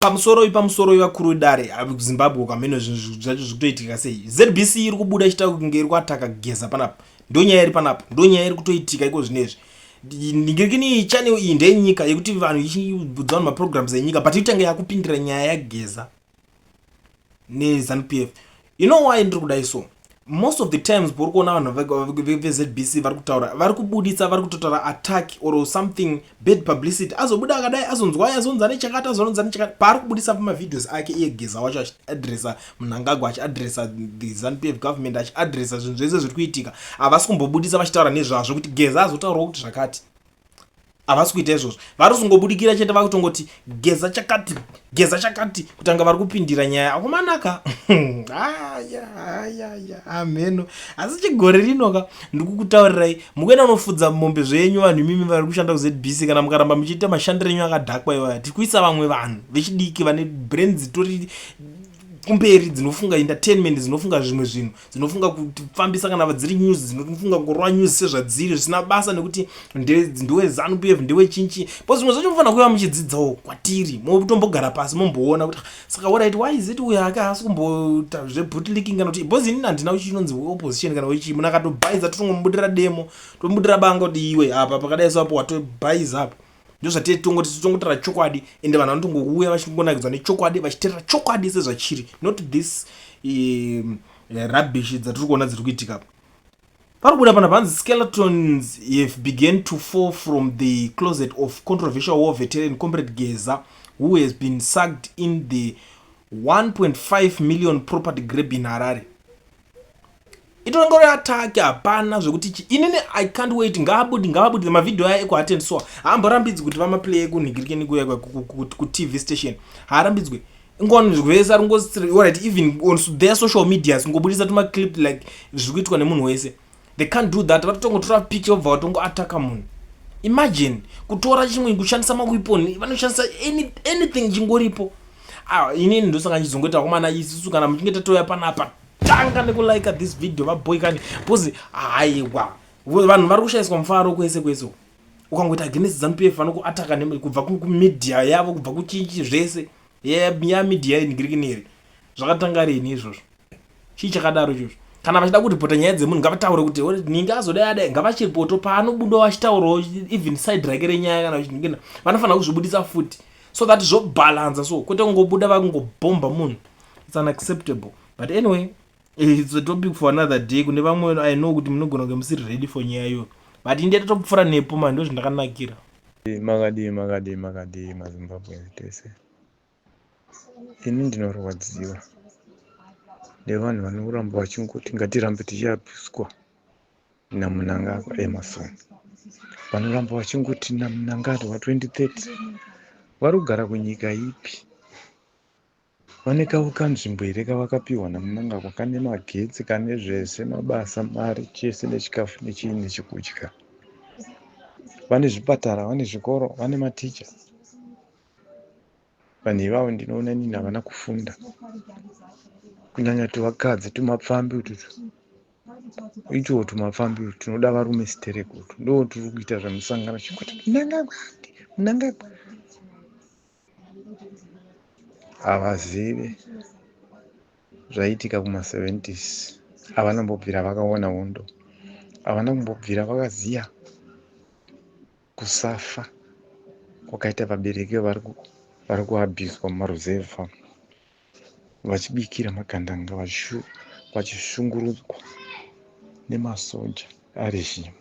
pamusoroi pamusoroi vakuru vedare zimbabwe ukamheno zvinhu zvacho zviri kutoitika sei zbc iri kubuda ichitaura kunge iri kuataka kugeza panapa ndonyaya iri panapa ndonyaya iri kutoitika iko zvino izvi ndingirikini channel iyi ndeyenyika yekuti vanhu ichibudza vanhu maprograms enyika but itange yakupindira nyaya yageza nezanu p f you know why ndiri kudai so most of the times pauri kuona vanhu vezbc vari kutaura vari kubuditsa vari kutotaura attack or something bad publicity azobuda akadai azonzwai azonzi ane chakati azonzi ane chakati paari kubudisa pamavideos ake iye geza wacho achiadressa munangagwa achiadressa the zanp f government achiadressa zvinhu zvese zviri kuitika havasi kumbobudisa vachitaura nezvazvo kuti geza azotaurawo kuti zvakati havasi kuita izvozvo vari kuzongobudikira chete vari kutongoti geza chakati geza chakati kutanga vari kupindira nyaya akumanaka amheno asi chigore rinoka ndikukutaurirai mukuenda unofudza mombe zvenyu vanhu imimi vari kushanda kuzbc kana mukaramba muchiita mashandiro enyu akadhakwa iwaya tiri kuisa vamwe vanhu vechidiki vane brain dzitori kumberi dzinofunga entertainment dzinofunga zvimwe zvinhu dzinofunga kufambisa kana vadziri news dzinofunga kurova news sezvadziri zvisina basa nekuti ndewe zanu pf ndewe chinchi but zvimwe zvacho mufanira kuva muchidzidzawo kwatiri motombogara pasi momboona kuti ah, saka orit why is it uyo ake haasi kumbota zvebutliking kana kuti bcause inini handina chinonzi opposition kana wechii munhu akatobhaiza totongomubudira demo tomubudira banga kuti iwe apa pakadai so apo watobhaiza apo ndozvatete tongo tisu tongotaura chokwadi ende vanhu vanotongouya vachingonakidzwa nechokwadi vachiterera chokwadi sezvachiri not this um, eh, rubbish dzatiri kuona dziri kuitika pari kubuda pana vanzi skeletons have began to fall from the closet of controversial war veteran comrade geza who has been sucked in the 1.5 million property grab in harare itongore atake hapana zvekuti chi inini i can't wait ngaabudi ngaabudire mavhidhiyo aya ekuhaten so haamborambidzi kuti vamaplay ekunhigirikeni kuya kutv station haarambidzwe ngonzwese ari ngorit even on their social medias ngobudisa tumaclip like zviri kuitwa nemunhu wese they can't do that vatotongotora pic vobva vatongoataka munhu imagine kutora chimwe kushandisa mawepon vanoshandisa anything chingoripo ah, inini ndosaka ndizongoita komana isisu kana muchinge tatouya panapa tanga nekulike this video vaboy kani bcause haiwa vanhu vari kushaiswa mufaro kwese kwese ukangoita against zanu pf vanokuataka kubva kumedia yavo kubva kuchichi zvese yamidia inigirikineri zvakatanga rini izvozvo chii chakadaro izvozvo kana vachida kuripota nyaya dzemunhu ngavataure kuti ninge azodai adai ngavachiripoto paanobudawo achitaurawo even side rake renyaya kana vachiningina vanofanira kuzvibudisa futi so that zvobhalanza so kwete kungobuda vakungobhomba munhu its unacceptable but anyway Eh, it's a topic for another day kune vamwe i know kuti munogona kunge musiri ready for nyaya iyoyo but india tatopfura nepo mani ndo zvindakanakira makadii makadii makadii mazimbabweans tese ini ndinorwadziwa nevanhu vanoramba vachingoti ngatirambe tichiapiswa namunangagwa emerson vanoramba vachingoti namunangagwa 2030 vari kugara kunyika ipi Vane kavo kanzvimbo here kavakapiwa naMnangagwa kane magetsi kane zvese mabasa mari chese nechikafu nechii nechekudya vane zvipatara vane zvikoro vane maticha vanhu ivavo ndinoona nini havana kufunda kunyanya tuvakadzi tumapfambi ututu itiwo tumapfambi utu tinoda varume siterekutu ndo turi kuita zvemusangano chekuti munangagwa munangagwa havazive zvaiitika kuma 70s havana mbobvira vakaona hondo havana kumbobvira vakaziya kusafa kwakaita vabereki vari kuabhizwa mumaruzevha vachibikira magandanga vachishungurudzwa nemasoja arejimu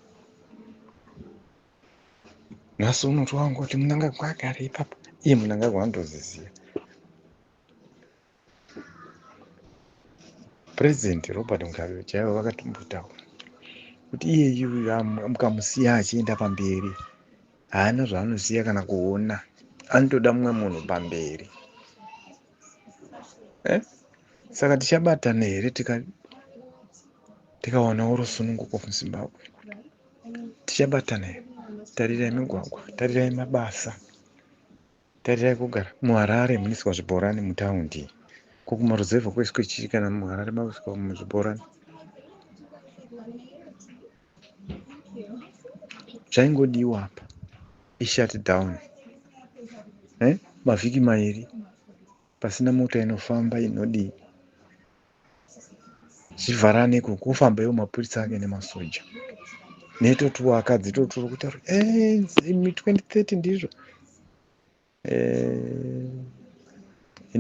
nhasi unoti wangu kuti munangagwa agare ipapo iye munangagwa anotozviziva president robert mugabe chaivo vakatombotaura kuti iye yuyu mukamusiya achienda pamberi haana zvaanosiya kana kuona anotoda mumwe munhu pamberi eh? saka tichabatana here tikaonawo rusununguko muzimbabwe tichabatana here tarirai migwagwa tarirai mabasa tarirai kugara muharare muniswa zvibhorani mutaundi ko kumaruzevha kwaiswa chii kana muharare maiswa muzvibhorani zvaingodiwa apa ishut down eh? mavhiki mairi pasina mota inofamba inodii zvivharane ikoko kufamba iwo mapurisa ake nemasoja netotuwo akadzi toturo kutaura eh, imi 2030 ndizvo eh,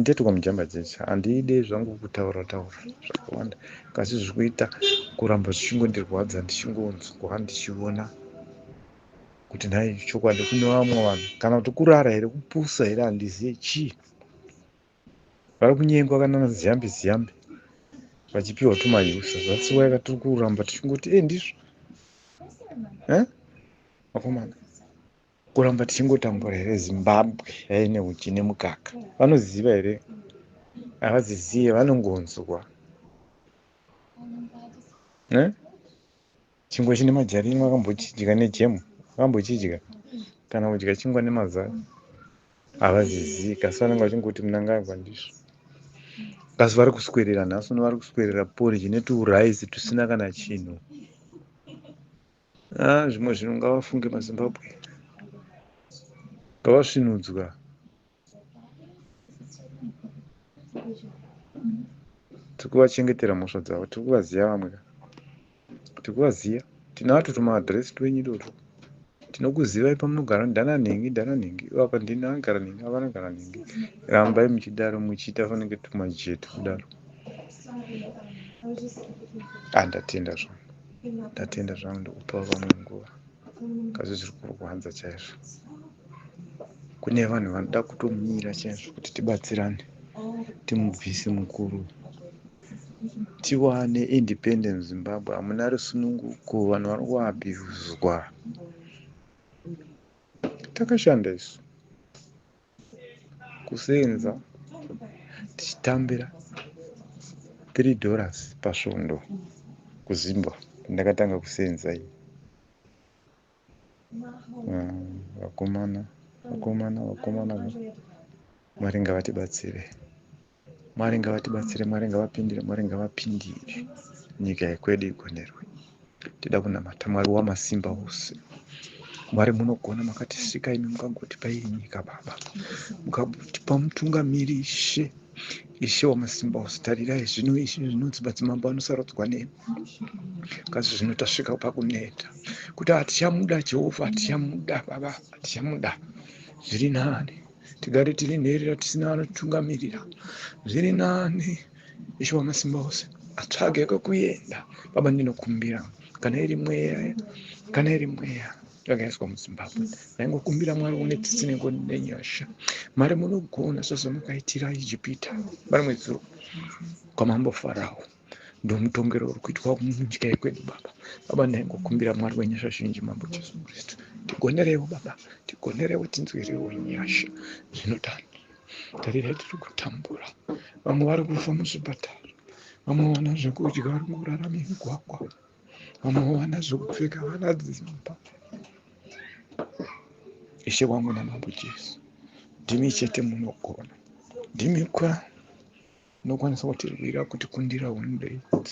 ndetwa mujamba dzese handide zvangu kutaura taura zvakawanda kasi zvikuita kuramba zvichingondirwadza ndichingonzwa ndichiona kuti nhai chokwadi kune vamwe vanhu kana kuti kurara here kupusa here handizive chii Vari kunyengwa kana na Ziyambi Ziyambi vachipiwa tuma user that's why katiri kuramba tichingoti eh ndizvo eh vakomana kuramba tichingotambura here zimbabwe yaine uchi nemukaka vanoziva here havazizive vanongonzwa ne Chingwa chine majarini wakambochidya nejemu? Wakambochidya? Kana kudya chingwa nemazai havazizivi kasi vanenge vachingoti munangagwa ndizvo kasi vari kuswerera nhasi uno vari kuswerera poriji netuuraisi tusina kana chinhu a ah, zvimwe zvinhu ngavafunge mazimbabwe ngavasvinudzwa tiri kuvachengetera mhosva dzavo tiri kuvaziva vamwe ka tiri kuvaziva tinato tumaadhiresi twenyu toto tinokuzivai pamunogara ndana nhingi ndana nhingi apa ndini anogara nhingi apa anogara nhingi rambai muchidaro muchiita fanenge tumajetu kudaro andatenda ah, zvangu ndatenda zvangu ndikupawo vamwe nguva kazi zviri kurwadza chaizvo kune vanhu vanoda kutomira chaizvo kuti tibatsirane timubvise mukuru tiwane independent zimbabwe hamuna rusununguko vanhu vari kuabhuzwa takashanda isu kusenza tichitambira 3 dollars pasvondo kuzimbwa ndakatanga kusenza iyi vakomana vakomana vakomana mwari ngavatibatsire Mwari ngavatibatsire, Mwari ngavapindire, Mwari ngavapindire. Nyika yekwedu igonerwe. Tida kunamata Mwari wamasimba ose. Mwari munogona makatisika imi mukagotipa iyi nyika baba. Mukagotipa mutungamiri ishe. Ishe wamasimba ose tarirai zvino izvi zvinonzi madzimambo anosarudzwa nemi. Kazi zvino tasvika pakuneta. Kuti hatichamuda Jehovha, hatichamuda baba, hatichamuda. Zviri nani. tigare tiri nherera tisina anotungamirira zviri nani ishe wamasimba ose atsvage kwekuenda baba ndinokumbira kana iri mweya kana iri mweya yakaiswa muzimbabwe ndaingokumbira mwari une tsitsi nengo nenyasha mari munogona sezvamakaitira ijipita vari mwedzuro kwamambo farawo ndomutongero uri kuitwa munyika yekwedu baba baba ndaingokumbira mwari wenyasha zhinji mambo jesu kristu tigonerewo baba tigonerewo tinzwirewo nyasha zvinodani tarirai tiri kutambura vamwe vari kufa muzvipatara vamwe vana zvekudya vari kurara mumigwagwa unowana zvekupfeka vana dzimba ishe wangu namambo jesu ndimi chete munogona ndimi kwa nokwanisa kutirwira kuti kundira one day